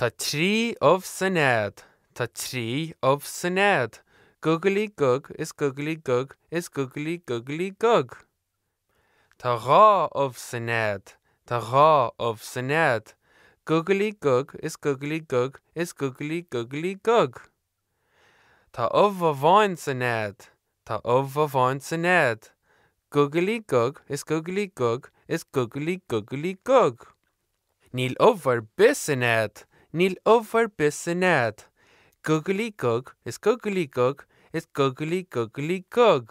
Tá trí ubh sa nead, tá trí ubh sa nead, gugalaí gug is gugalaí gug is gugalaí gugalaí gug. Tá dhá ubh sa nead, tá dhá ubh sa nead, gugalaí gug is gugalaí gug is gugalaí gugalaí gug. Tá ubh amháin sa nead, tá ubh amháin sa nead, Gugalaí gug is gugalaí gug is gugalaí gugalaí gug. Níl ubh ar bith sa nead, níl ubh ar bith sa nead, Gugalaí gug is gugalaí gug is gugalaí gugalaí gug.